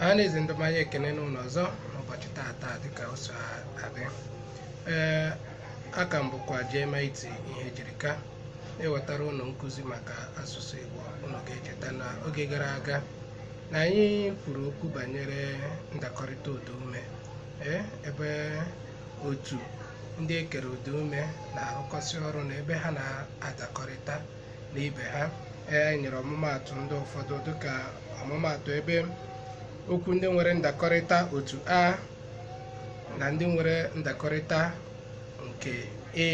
a na-ezi ndị ọma anyị ekene unu ọzọ n'ụbọchị taata dịka o so adị ee aka m bụkwa JMIT Ihejirika na-ewetara unu nkụzi maka asụsụ Igbo unu ga-echeta na oge gara aga na anyị kwuru okwu banyere ndakọrịta ụda ume ee ebe otu ndị e kere ụda ume na-arụkọsị ọrụ na ebe ha na-adakọrịta na ibe ha e nyere ọmụmaatụ ndị ụfọdụ dịka ọmụmaatụ ebe okwu ndị nwere ndakọrịta otu a na ndị nwere ndakọrịta nke e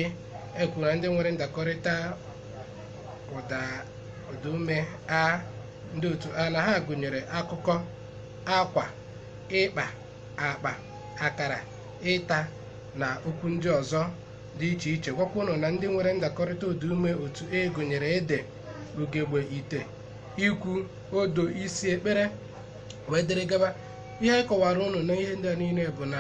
e kwuru na ndị nwere ndakọrịta ụda ụda ume a ndị otu a na ha gụnyere akụkọ akwa ịkpa akpa akara ịta na okwu ndị ọzọ dị iche iche gwakwa unu na ndị nwere ndakọrịta ụdaume otu e gụnyere ede ugegbe ite ikwu odo isi ekpere wee dịrị gaba ihe anyị kọwara unu na ihe ndị a niile bụ na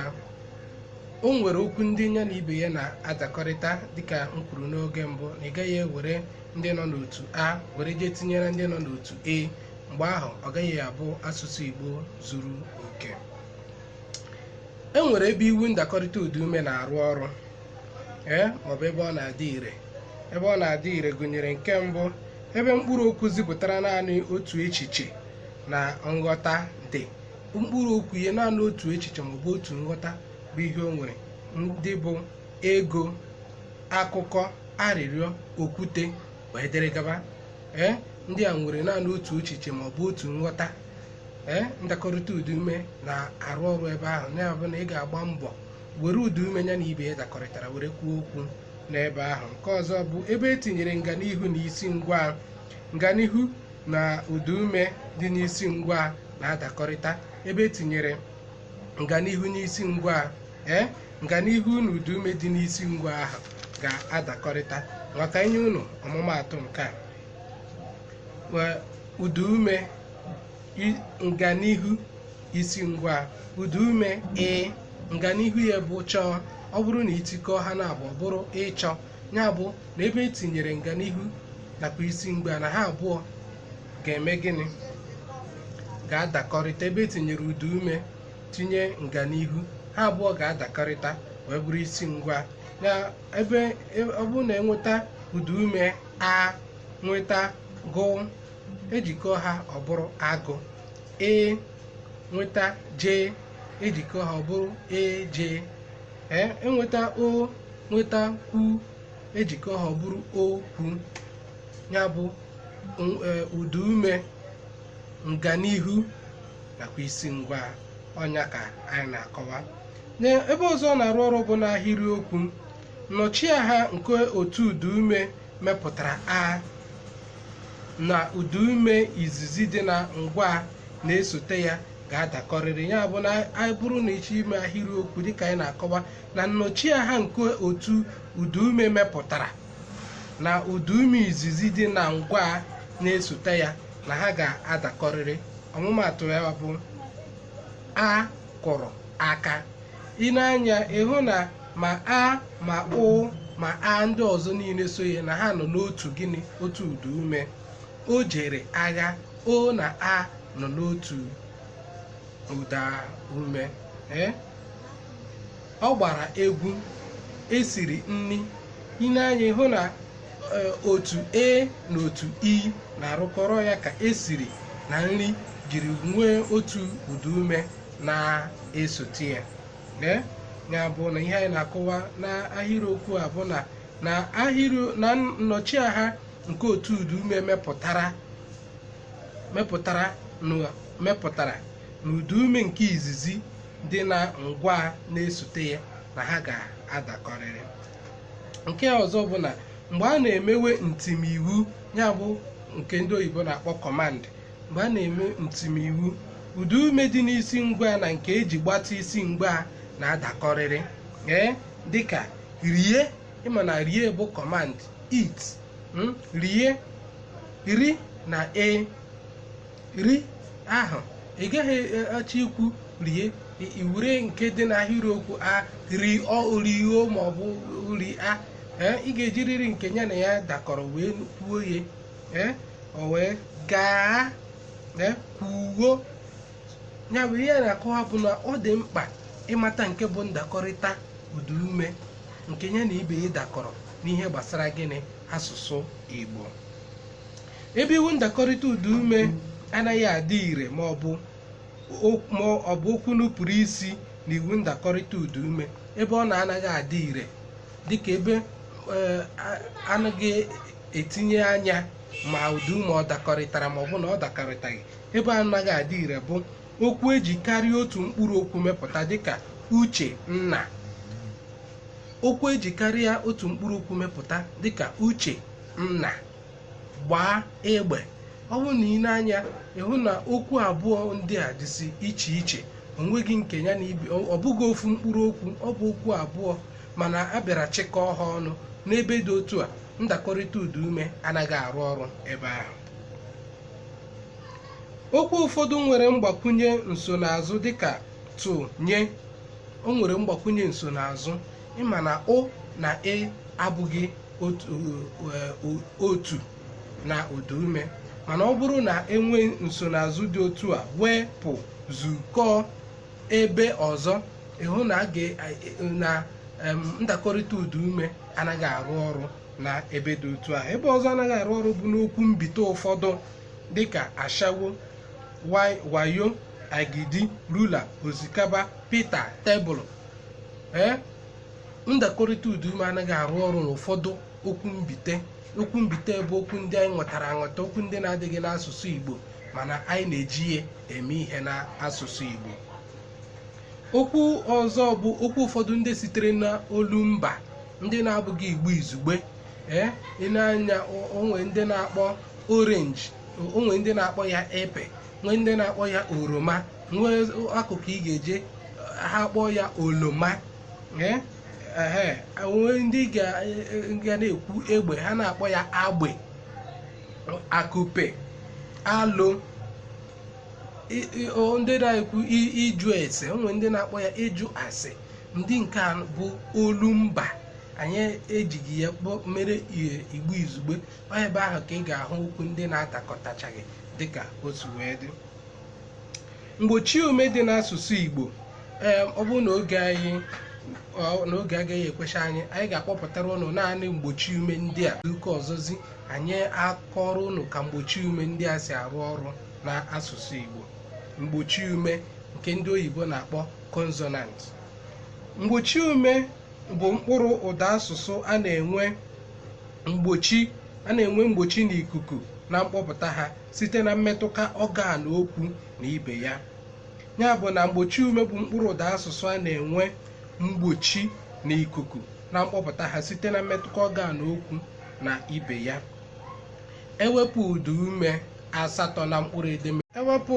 o nwere okwu ndị ya na ibe ya na-adakọrịta dịka m kwuru n'oge mbụ na ị gaghị ewere ndị nọ n'otu a were jee tinyere ndị nọ n'otu e mgbe ahụ ọ gaghị abụ asụsụ Igbo zuru oke e nwere ebe iwu ndakọrịta ụda ume na-arụ ọrụ ee maọbụ ebe ọ na-adị ire ebe ọ na-adị ire gụnyere nke mbụ ebe mkpụrụ okwu zipụtara naanị otu echiche na nghọta dị mkpụrụ okwu ihe naanị otu echiche maọbụ otu nghọta bụ ihe o nwere ndị bụ ego akụkọ arịrịọ okwute wee dịrị gaba ee ndị a nwere naanị otu echiche ma ọ bụ otu nghọta ee ndakọrịta ụda ume na-arụ ọrụ ebe ahụ ya bụ na ị ga-agba mbọ were ụda ume ya na ibe ya dakọrịtara were kwuo okwu n'ebe ahụ nke ọzọ bụ ebe e tinyere nganihu na isi ngwaa nganihu na ụda ume dị n'isi ngwaa na-adakọrịta ebe e tinyere nganihu n'isi ngwaa ee nganihu na ụda ume dị n'isi ngwaa ahụ ga-adakọrịta ma ka e nye unu ọmụmaatụ nke a ụda ume i- nganihu isi ngwaa ụda ume ị nganihu ya bụ chọọ ọ bụrụ na i tikọọ ha na abụọ bụrụ ịchọ ya bụ na ebe e tinyere nganihu nakwa isi ngwaa na ha abụọ ga-eme gịnị ga-adakọrịta ebe e tinyere ụda ume tinye nganihu ha abụọ ga-adakọrịta wee bụrụ isi ngwa na ebe e- ọ bụrụ na enweta ụda ume a nweta gụ ejikọ ha ọ bụrụ agụ e nweta je ejikọ ha ọ bụrụ eje e enweta o nweta kwu ejikọ ha ọ bụrụ okwu ya bụ n- e, ụda ume nganihu nakwa isi ngwa ọ nya ka anyị na-akọwa ebe ọzọ ọ na-arụ ọrụ bụ n'ahịrịokwu nnọchiaha nke otu ụdaume mepụtara a na ụdaume izizi dị na ngwa na-esote ya ga-adakọrịrị ya bụ na anyị bụrụ na ị chọọ ime ahịrịokwu dịka anyị na-akọwa na nnọchiaha nke otu ụdaume mepụtara na ụdaume izizi dị na ngwa na-esote ya na ha ga-adakọrịrị ọmụmaatụ ya bụ a kụrụ aka i nee anya ị hụ na ma a ma ụ ma a ndị ọzọ niile so ya na ha nọ n'otu gịnị otu ụda ume o jere agha o na a nọ n'otu ụda ume ee ọ gbara egwu e siri nri i nee anya ị hụ na Eh, otu a na otu i e na-arụkọrọ ya ka esiri na nri jiri nwee otu ụda ume na-esote ya ya bụ na ihe anyị na-akọwa n'ahịrịokwu a bụ na na nnọchiaha nke otu ụda ume mepụtara mepụtara na ụda ume nke izizi dị na ngwa na-esote ya na ha ga-adakọrịrị nke ọzọ bụ na mgbe a na-emewe ntimiwu ya bụ nke ndị oyibo na-akpọ command mgbe a na-eme ntimiwu ụda ume dị n'isi ngwa na nke eji gbatịa isi ngwa na-adakọrịrị ee dịka rie ị ma na rie bụ command eat mm, rie ri na e ri ahụ ị gaghị achọ ikwu rie i were nke dị n'ahịrịokwu a riọ riọ ma ọ bụ ria ee ị ga-ejiriri nke ya na ya dakọrọ wee kwuo ya ee o wee gaa ee kwuo ya bụ ihe a na-akọwa bụ na ọ dị mkpa ịmata nke bụ ndakọrịta ụdaume nke ya na ibe ya dakọrọ n'ihe gbasara gịnị asụsụ Igbo ebe iwu ndakọrịta ụdaume anaghị adị ire ma ọ bụ o- ma ọ bụ okwu nupụrụ isi na iwu ndakọrịta ụdaume ebe ọ na-anaghị adị ire dịka ebe eh, a- anaghị etinye anya ma ụdaume ọ dakọrịtara ma ọ bụ na ọ dakọrịtaghị ebe anaghị adị ire bụ okwu eji karịa otu mkpụrụ okwu mepụta dịka uche nna okwu eji karịa otu mkpụrụ okwu mepụta dịka uche nna gbaa egbe ọ bụrụ na i lee anya ị hụ na okwu abụọ ndị a dịsị iche iche o nweghị nke ya na ibe ọ bụghị ofu mkpụrụ okwu ọ bụ okwu abụọ mana a bịara chịkọọ ha ọnụ n'ebe dị otu a ndakọrịta ụda ume anaghị arụ ọrụ ebe ahụ okwu ụfọdụ nwere mgbakwunye nsonaazụ dịka tụnye o nwere mgbakwunye nsonaazụ ị ma na ụ na e abụghị otu eh, otu na ụda ume mana ọ bụrụ na e nwee nsonaazụ dị otu a wepụ zukọọ ebe ọzọ ị hụ na a ga- eh, na em, ndakọrịta ụda ume anaghị arụ ọrụ na ebe dị otu a ebe ọzọ anaghị arụ ọrụ bụ n'okwu mbite ụfọdụ dịka ashawo wai- wayo agidi rula osikapa pita tebụl ee ndakọrịta ụda ume anaghị arụ ọrụ n'ụfọdụ okwu mbite okwu mbite bụ okwu ndị anyị nwetara anweta okwu ndị na-adịghị n'asụsụ Igbo mana anyị na-eji ya eme ihe n'asụsụ Igbo okwu ọzọ bụ okwu ụfọdụ ndị sitere n'olu mba ndị na-abụghị Igbo izugbe ee i nee anya o nwee ndị na-akpọ orange o nwee ndị na-akpọ ya epe nwee ndị na-akpọ ya oroma nwee akụkụ ị ga-eje ha kpọọ ya oloma ee ehe nwee ndị ga ga na-ekwu egbe ha na-akpọ ya agbe akụpe alo i- i- o- ndị na-ekwu i- ịjụ ese o nwere ndị na-akpọ ya ịjụ ase ndị nke a bụ olu mba anyị ejighị ya kpọ- mere i- igbo izugbe ọ ebe ahụ ka ị ga-ahụ okwu ndị na-adakọtachaghị dịka otu wee dị mgbochi ume dị n'asụsụ Igbo ee ọ bụrụ na oge anyị ọ- na oge agaghị ekwecha anyị anyị ga-akpọpụtara ụnụ naanị mgbochi ume ndị a ụka ọzọzi anyị akọọrọ ụnụ ka mgbochi ume ndị a si arụ ọrụ n'asụsụ Igbo mgbochi ume nke ndị oyibo na-akpọ consonant mgbochi ume bụ mkpụrụ ụda asụsụ a na-enwe mgbochi a na-enwe mgbochi n'ikuku na mkpọpụta ha site na mmetụta ọgan okwu na ibe ya ya bụ na mgbochi ume bụ mkpụrụ ụda asụsụ a na-enwe mgbochi na ikuku na mkpọpụta ha site na mmetụta ọgan okwu na ibe ya ewepụ ụda ume asatọ na mkpụrụ edemede ewepụ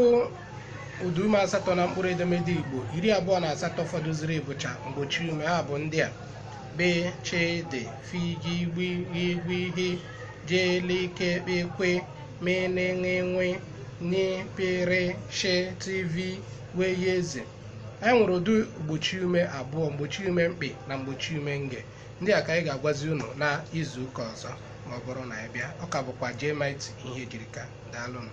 ụda ume asatọ na mkpụrụ edemede igbo iri abụọ na asatọ fọdụziri bụcha mgbochi ume ha bụ ndị a be che de fi gi gbi gwi hi je li ke kpe kwe me ne ṅe nwe nyi pe re she ti vi we ye ze anyị nwere ụdị mgbochi ume abụọ mgbochi ume mkpị na mgbochi ume nge ndị a ka anyị ga-agwazi unu na izu ụka ọzọ ma ọ bụrụ na anyị bịa ọ ka bụkwa JMIT Ihejirika daalụnụ